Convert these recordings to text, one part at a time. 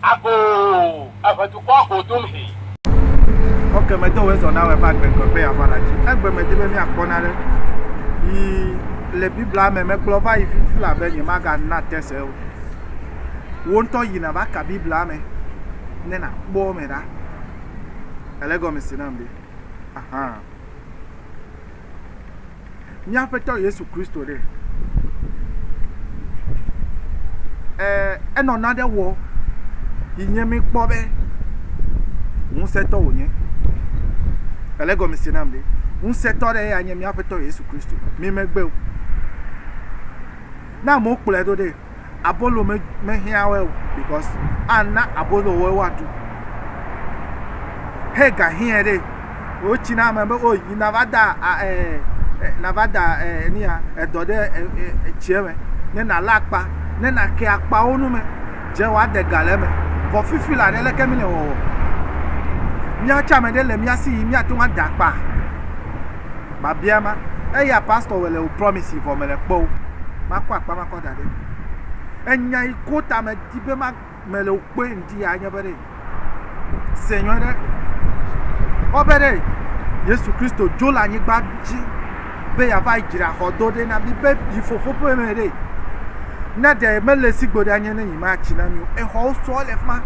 Agoo, eve dukɔ go dom he. Ok, me do wezɔ na wɛfa gbe gbe be yava la ci. Egbe me di be mi akpɔ na ɖe. Yi le Biblia me me kplɔ va yi fifi la be nye ma ga na tese o. Wo ntɔ yi na va ka Biblia me ne na kpɔ me ɖa. Ele gɔme si na mbe. Aha. mía Aƒetɔ Yesu Kristo ɖe? Ɛɛ, enɔ naɖe wɔ yi nye míkpɔ be ŋusẽtɔ wònye. Ele gɔme se nam ɖe. Ŋusẽtɔ ɖe ya nye mía Aƒetɔ Yesu Kristo. Mi megbe o. Ne amewo kplɔe ɖo ɖe. abolo me mehiã woe o because ana abolo woe woaɖu. He gahiɛ ɖe wotsi na ame be o yi nava da ɛɛ nava da ɛɛ nia edɔ ɖe etsiɛ me ne nalé akpa ne nake akpawo nu me dze woade ga le eme. Vɔ fifi la ɖe leke mi le wɔwɔ? Mía tsɛ ame ɖe le mía si yi míate ŋu ada akpa. Babia ma eya pastor wɔ le o promise vɔ mele kpɔ o. Makɔ akpa makɔ. da ɖe. Enya yi ko ta me di be ma me le kpe ŋdi ya nye be ɖe. Se nyɔ ɖe. Wo be ɖe Yesu Kristo dzo le anyigba dzi be ya va dzra xɔ do ɖe na mi be yi fofo ƒe me ɖe. Ne ɖe me le sigbo ɖe anye ne yi ma tsi na mi o. Exɔwo sɔ le fma.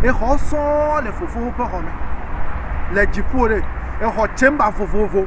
Exɔ sɔ le fofo ƒe xɔ me. Le dziƒo ɖe. Exɔ chamber vovovo.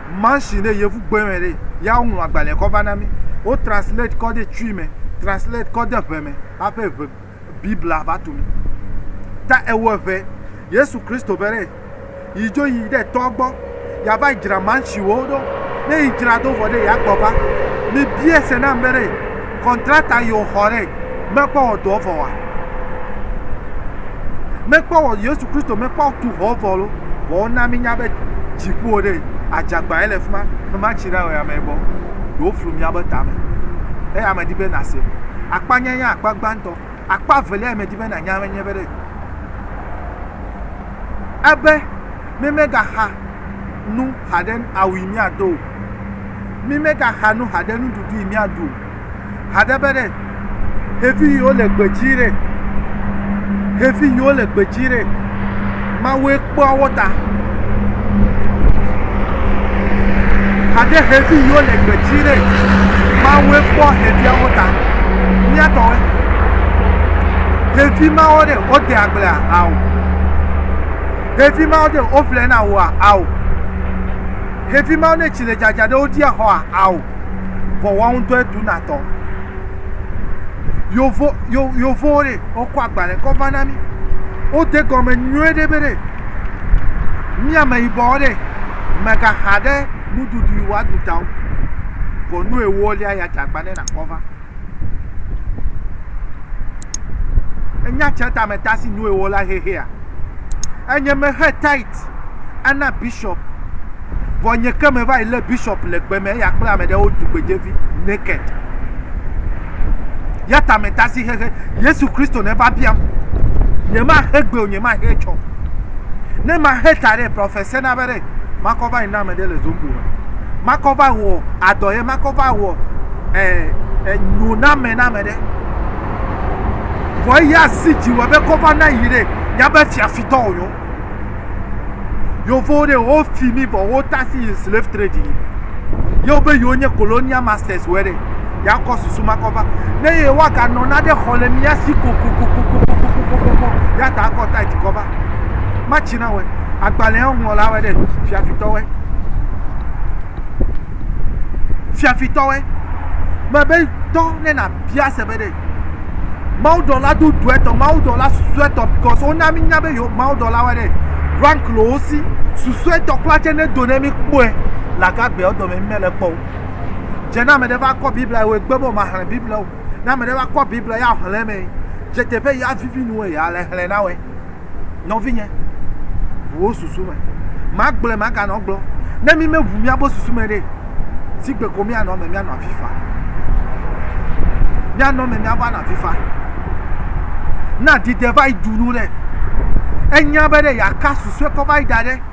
Mansin ɖe yevu gbe me ɖe ya woŋlɔ agbalẽ kɔ va na mi. Wo translate kɔ de tsui me, translate kɔ de ʋe me hafi ʋe Biblia va tu mi. Ta ewɔ ʋe Yesu Kristo be ɖe yi dzo yi ɖe tɔ gbɔ ya va dzra mansiwo ɖo. Ne yi dzra do vɔ ɖe ya kpɔ va. Mi bia se na be ɖe. Kɔntrata yi wòxɔ ɖe mekpɔ wɔ dɔ vɔ wa? Mekpɔ wɔ Yesu Kristo mekpɔ tu xɔ vɔ lo. Vɔ wona mi nya be dziƒo ɖe adzagba ye le fi ma. Mema tsi ɖa wɔ ya mɛ bɔ. Ɖewo flu mia be tame. Eya me di be na se. Akpa nya nya akpa gbãtɔ. Akpa velia yi me di be na nya me nye be ɖe. Ebe meme ga xa nu xa ɖe awi mia do. Mi me ga xa nu haɖe nuɖuɖu yi mia ɖu. Haɖe be ɖe, xevi yi wo le gbedzi ɖe, xevi yi wo le gbedzi ɖe, Mawue kpɔa wo ta. Haɖe xevi yi wo le gbedzi ɖe, Mawue kpɔ xevia wo ta. Mia tɔwe. Xevi ma wo ɖe, wo de agblea, ao. Xevi ma wo ɖe, wo vlɛ na woa, ao. Xevi mawo ne tsi le dzadza ɖe wo dia xɔa ao vɔ woa ŋutɔe tu na tɔ. Yovo yo yovowo ɖe wokɔ agbalẽ kɔ va na mi. Wode gɔme nyuie ɖe be ɖe mi ameyibɔwo ɖe megaxa ɖe nuɖuɖu yi woaɖu ta o. Vɔ nu ewolia ya dze agba ne nakɔ va. Enya tsɛ tame ta si nue wɔ la xexea? Enye me xe tait ana bishop. Vɔ nye ke me va yi le bishop le gbe me eya kple ame ɖewo du gbedzevi naked. Ya tame ta si xexe. Yesu Kristo ne va biam. Nye ma xe gbe o, nye ma xe tsɔ. Ne ma xe ta ɖe, prɔfɛsɛ na be ɖe. makɔ va yi na ame ɖe le zombo me makɔ va wɔ adɔ ye makɔ va wɔ eh, eh, nyo na ame na ame ɖe vɔ eya si dzi wɔ be kɔ va na yi ɖe ya be fiafitɔ o yo yovo ɖe wo fi mi vɔ wo tasi yi slave trade yi yewo be yewo nye colonial masters wɔ ɖe yakɔ susu makɔ va ne ye waganɔ na ɖe xɔ le mia si kokokokokokokokokoko ya ta akɔ tight kɔ va. na wɔe. Agbalẽa ŋlɔ la wɔe ɖe fiafitɔ wɔe. Fiafitɔ wɔe. Me be tɔ ne na bia se be ɖe. Mawu dɔ la do dɔɛ tɔ, mawu dɔ la susuɛ tɔ, because wo na mi nya be yo mawu dɔ la wɔe ɖe. Rank lo wo si, susuɛ tɔ kpla tse ne do ne mi kpɔɛ. La ka gbea dɔ me mi me le kpɔ wo. Dze na me ɖe va kɔ Biblia wo egbe mo ma hle Biblia wo. Na me ɖe va kɔ Biblia ya hle me. Dze te be ya vivi nu ya le hle na wɔe. Nɔvinye, ʋu wò susu me. Magblɔe maganɔ gblɔ. Ne mi me ʋu miabe susu me ɖe, si gbe ko mianɔ eme mianɔ avi fa. Mianɔ eme miava nɔ avi fa. Na dide va yi du nu ɖe. Enya be ɖe yaka susue kɔ va yi da ɖe.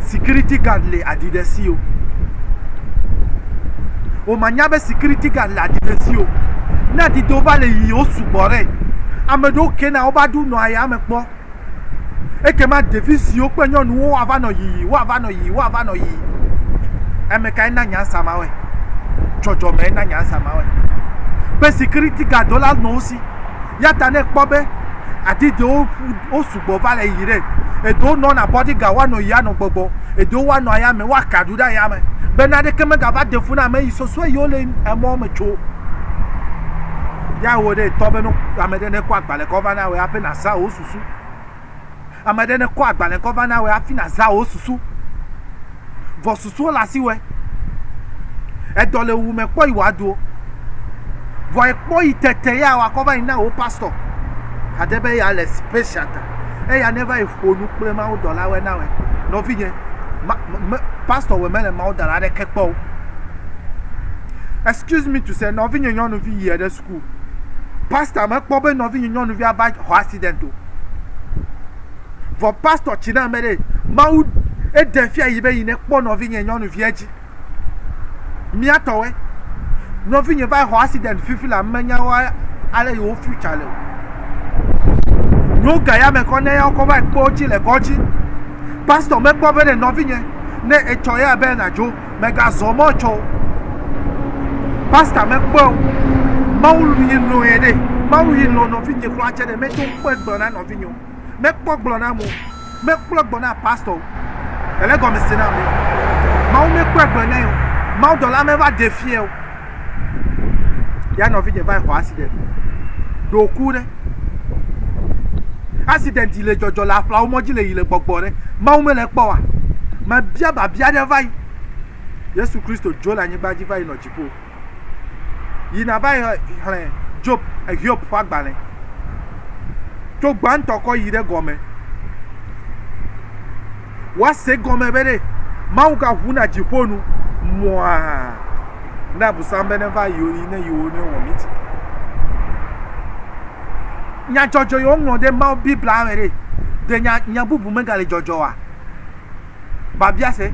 sikiriti gad le aɖi ɖe si o. Womanya be sikiriti gad le aɖi ɖe si o. Ne adidewo va le yiyim, wosugbɔ ɖe. Ame ɖewo kena wova ɖo nɔ ayame kpɔ. Ekema ɖevi siwo kple nyɔnuwo woava nɔ yiyi, woava nɔ yiyi, woava nɔ yiyi. Ame kae na nyansa ma wɔe? Dzɔdzɔmee na nyansa ma wɔe. Be sikiriti gadwo la nɔ wo si. Ya ta ne ekpɔ be adidewo wosu gbɔ va le yi ɖe. Eɖewo nɔ na bɔdi ga woanɔ yi anɔ gbɔgbɔ. Eɖewo woanɔ aya me woaka ɖu ɖe aya me. Be na ɖeke mega va de fu na ame yi sɔsɔe yi wo le emɔ me tso. Ya wo ɖe tɔ be no ame ɖe ne kɔ agbalẽ kɔ va na we aƒe na za wo susu. Ame ɖe ne kɔ agbalẽ kɔ va na we afi na za wo susu. vɔ susuɔ le asiwɛ. Edɔ le wu mɛ kpɔ yi wa duo. Vɔ ekpɔ yi tete ya wa kɔ va yi na wo pastɔ hade be ya le special ta. Eya ne va yi ƒonu kple Mawu dɔlawɛ na wɛ. Nɔvinyɛ, ma, me, pastɔ wɛ mele Mawu dɔla ɖeke kpɔ o. Excuse me to say, nɔvinyɛ nyɔnuvi yi eɖe su. ku. Pastor mekpɔ be nɔvi nyɔnuvia va xɔ accident o. Vɔ pastor tsi na me ɖe Mawu eɖe fia yi be yi ne kpɔ nɔvi nye nyɔnuvia dzi. Mia tɔwe. Nɔvi nye va xɔ accident fifi la menya wa ale yi wo future le o. Nyo ga ya me kɔ ne ya kɔ va kpɔ dzi le kɔdzi. Pastor mekpɔ be ne nɔvi nye ne etsɔ ya be na dzo. megazɔ mɔ tsɔ o. Pasta mekpɔɛ o. Mawu yi lɔ̃ yɛ ɖe. Mawu yi lɔ̃ nɔvinye kura tsɛ ɖe. Meto kpɔɛ gblɔ na nɔvinye o. Mekpɔ gblɔ na amewo. Mekpɔɛ gblɔ na pasta o. Ele gɔmesese na amɛ. Mawu mekpɔɛ gblɔ nɛ o. Mawudɔla meva ɖe fiɛ o. ya nɔvinyɛ va yi xɔ accident ɖo ku ɖe accident yi le dzɔdzɔ le aƒlawo mɔdzi le yi le gbɔgbɔ ɖe mawu mele kpɔ wa mebia babia ɖe va yi yesu kristo dzo le anyigba dzi va yi nɔ dziƒo yi nava yi xlẽ job ehiob ƒe agbalẽ tso gbãtɔ kɔ yi ɖe gɔme Woase egɔme be ɖe Mawu gaʋuna dziƒo nu mɔa na Abosam be neva yewo yi ne yewo ne wɔ miti. Nya dzɔdzɔ yewo ŋlɔ ɖe Mawu Biblia me ɖe ɖe nya nya bubu megale dzɔdzɔ wa? Babia se.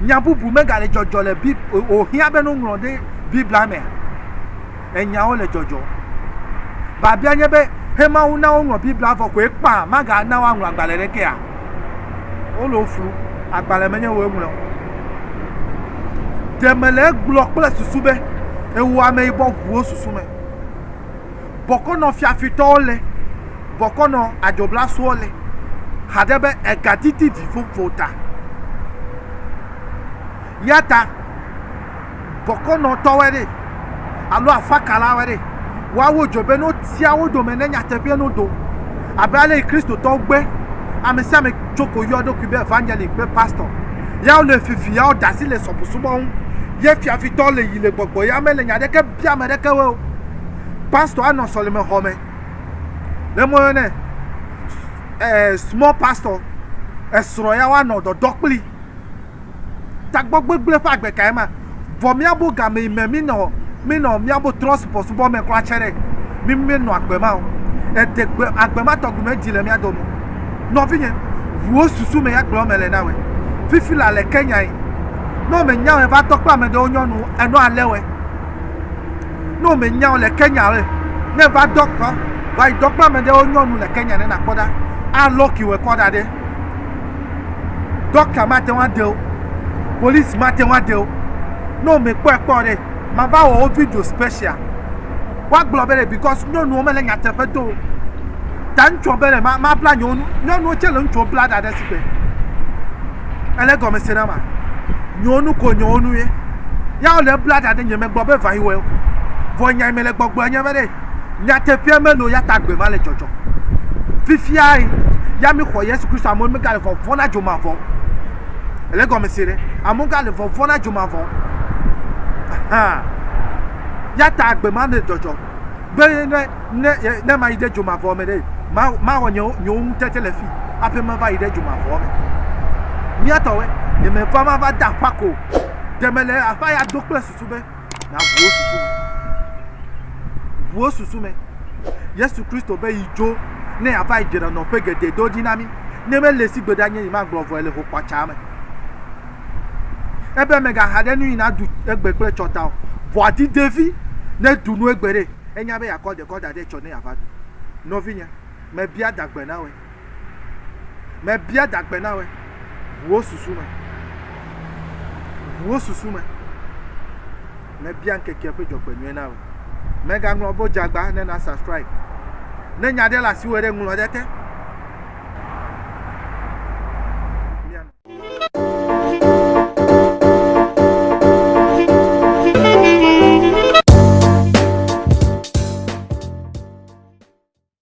Nya bubu megale dzɔdzɔ le Bib o hiã be no ŋlɔ ɖe Biblia mea? enyawo le dzɔdzɔm. Biabia nye be, he Mawu na woŋlɔ Biblia vɔ koe kpã magana woaŋlɔ agbalẽ ɖekea? Wole wo flu, agbalẽ menye woe ŋlɔe o. Ɖe mele egblɔ kple susu be ewɔ ameyibɔ ʋuwo susu me. Bɔkɔnɔ fiafitɔwo le, bɔkɔnɔ adzoblasowo le, haɖe be egadidi vivovo ta. Ya ta bɔkɔnɔtɔwoe ɖe alo afakalawoe ɖe. Woawo dzɔ be ne wotia wo dome ne nyateƒee no do. Abe ale yi Kristotɔwo gbe ame sia ame tso ko yɔ eɖokui be evangeliki kple pastɔ. Ya wole fifi, ya woda asi le subɔsubɔ ŋu. Ye fiafitɔ le yi le gbɔgbɔ, ya mele nya aɖeke bia ame aɖeke o. Pastɔ anɔ sɔlemexɔ me. Ne moyɔ nɛ eh, small pastor, esrɔ̃ ya woanɔ dɔdɔ kplii. Tagbɔ gbegblẽ ƒe agbe kae ma! Vɔ míabo game yi me mínɔ, mínɔ míabo trɔ̃subɔsubɔ me kura tsɛ ɖe, mí míenɔ agbe ma o. Ède gbe, agbe ma tɔgbi medzi le mía dome o. Nɔvinye, ʋu wò susu me ya gblɔ eme le na wòe. Fifi la le ke nyae. Ne wòmenya wòe va tɔ kple ame ɖewo nyɔnu o, enɔ ale wòe. Ne wòmenya wò le Kenya oe, ne va dɔ kpɔ, va yi dɔ kple ame ɖewo nyɔnu le Kenya ne nàkpɔ ɖa, alɔki wòe kɔ ɖa ɖe. Ɖɔkta mate ŋu aɖe wo. Polisi mate ŋu aɖe wo. Ne womekpɔe kpɔ o ɖe, mava wɔ wo video special. Woagblɔ be ɖe because nyɔnuwo mele nyateƒe do o. Ta ŋutsua be ɖe ma, mabla nye nu. Nyɔnuwo tse le ŋutsuwo bla ɖa ɖe si gbe. Ele gɔme se na ma. Nyewo nu ko nyewo nu ye. Ya wole bla ɖa ɖe nye megbe be vayi wɔe o. Vɔ nya yi mele gbɔgblɔ nye be ɖe. Nyateƒea meno ya ta gbe ma le dzɔdzɔ. Fifia ya mi xɔ Yesu Kristo amewo mi gale vɔvɔ na dzomavɔ. Ele gɔme se ɖe. Amewo gale vɔvɔ na dzomavɔ. Aha. Ya ta gbe ma le dzɔdzɔ. Be ne ne ne ma yi ɖe dzomavɔ me ɖe ma ma wɔ nyewo nyewo ŋutete le fi. Ape ma va yi ɖe dzomavɔ me. Mia tɔwe. Ne me va ma va da kwa ko. Deme le afa ya do kple susu be na ŋuwo susu me. Ŋuwo susu me. Yesu Kristo be yi dzo ne yeava yi dzre nɔƒe geɖe do ɖi na mí. Ne mele si gbe ɖa nye yi magblɔ vɔ le ho kpatsa me. Ebe megaha ɖe nu yi na du egbe kple tsɔta o. Vɔ adi devi ne du nu egbe ɖe. Enya be yakɔ dekɔ da ɖe tsɔ ne yava du. Nɔvinye, mebia dagbe na wɔ. Mebia dagbe na wòe, ʋuwo susu me, ʋuwo susu me. Mebia ŋkekea ƒe dzɔgbenyuie na wòe. Mègaŋlɔ be wodze agba ne nasubscribe. Ne nya aɖe le asiwò ɖe, ŋlɔ ɖe ete.